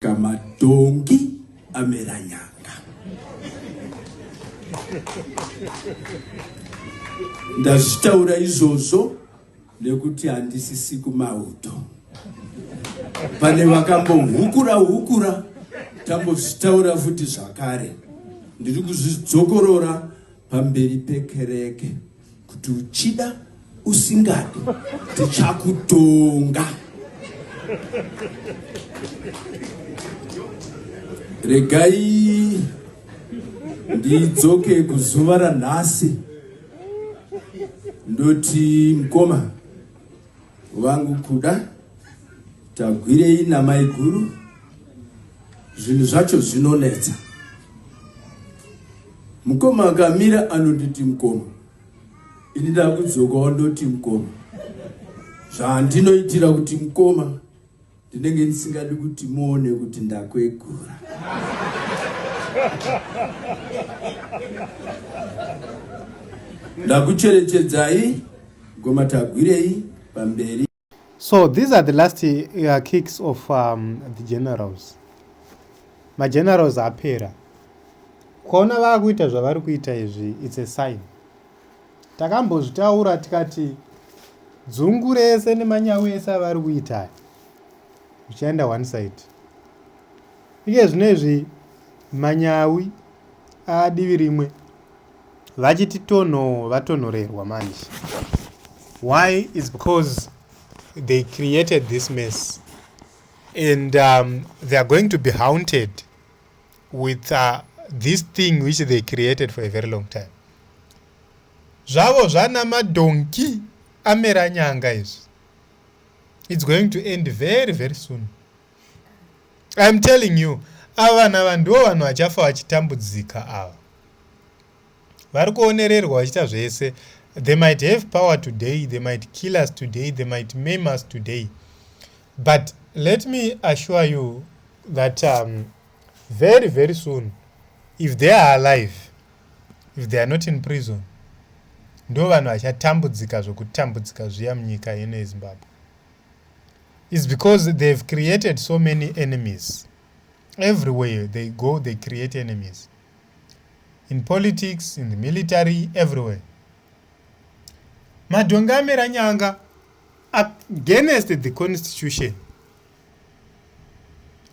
Kamadhongi amera nyanga. Ndazvitaura izvozvo nekuti handisisi kumauto. Pane vakambohukura hukura tambozvitaura futi zvakare. Ndiri kuzvidzokorora pamberi pekereke. Kuti uchida usingadi tichakutonga. Regai ndidzoke kuzuva ranhasi ndoti mkoma Vangu kuda tagwirei namaiguru zvinhu zvacho zvinonetsa mukoma akamira anonditi mukoma ini ndakudzokawo ndoti mukoma zvandinoitira kuti mukoma Ndinenge ndisingadi kuti muone kuti ndakwegura. Ndakucherechedzai ngoma tagwirei pamberi. So these are the last uh, kicks of um, the generals. Magenerals apera. Kuona vakuita zvavari kuita izvi it's a sign. Takambozvitaura tikati dzungu rese nemanyawi ese avari kuita aya zvichaenda one side. Iye zvino izvi manyawi adivi rimwe vachiti tonho vatonhorerwa manje. Why is because they created this mess and um, they are going to be haunted with uh, this thing which they created for a very long time zvavo zvana madhonki amera nyanga izvi it's going to end very very soon iam telling you ava vana vanhu ndivo vanhu vachafa vachitambudzika ava vari kuonererwa vachiita zvese they might have power today they might kill us today they might mame us today but let me assure you that um, very very soon if they are alive if they are not in prison ndo vanhu vachatambudzika zvokutambudzika zviya munyika ino yezimbabwe is because they have created so many enemies everywhere they go they create enemies in politics in the military everywhere madhongamera nyanga against the constitution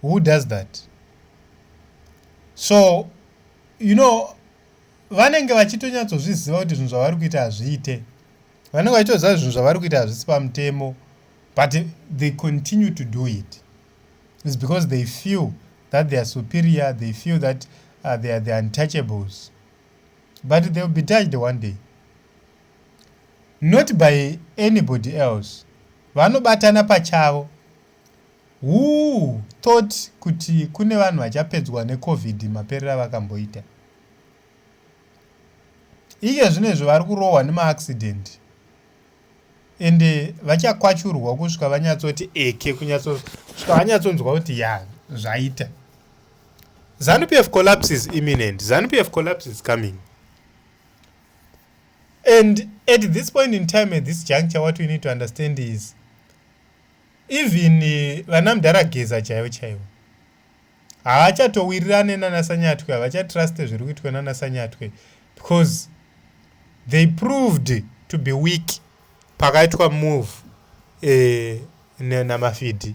who does that so you know vanenge vachitonyatsozviziva kuti zvinhu zvavari kuita hazviite vanenge vachitoziva zvinhu zvavari kuita hazvisi pamutemo but they continue to do it is because they feel that they are superior they feel that uh, they are the untouchables but they will be touched one day not by anybody else vanobatana pachavo who thought kuti kune vanhu vachapedzwa necovid maperera vakamboita iye zvino izvo vari kurohwa nemaaccident ende vachakwachurwa kusvika vanyatsoti eke kunyatsosvika vanyatsonzwa kuti ya zvaita zanupf collapse is imminent zanupf collapse is coming And at this point in time, at this juncture, what we need to understand is even eh, vana mdara geza chaivo chaivo haachatowirirane nana sanyatwe havachatruste zviri kuitwa nana sanyatwe because they proved to be weak pakaitwa move eh, namafidhi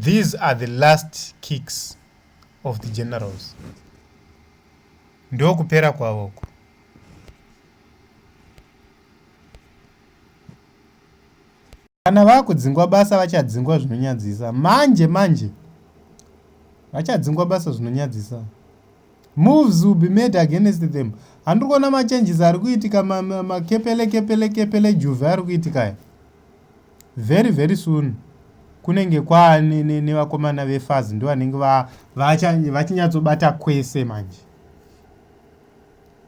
these are the last kicks of the generals ndokupera kwavo uku kana vakudzingwa basa vachadzingwa zvinonyadzisa manje manje vachadzingwa basa zvinonyadzisa moves will be made against them handiri kuona machanges ari kuitika makepele kepele kepele juve ari kuitika aya Very very soon kunenge kwaa nevakomana ne, ne vefazi ndo vanenge vachinyatsobata kwese manje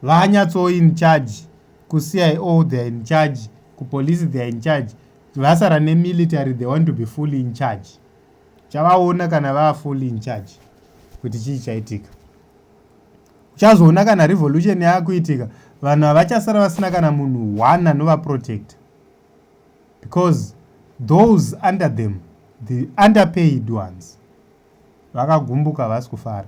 vanyatso in charge kucio theyare in charge kupolice theyare in charge vasara nemilitary they want to be fully in charge chavaona kana vava fully in charge kuti chii chaitika uchazoona kana revolution yaakuitika vanhu havachasara vasina kana munhu one anovaprotecta because those under them the underpaid ones vakagumbuka havasi kufara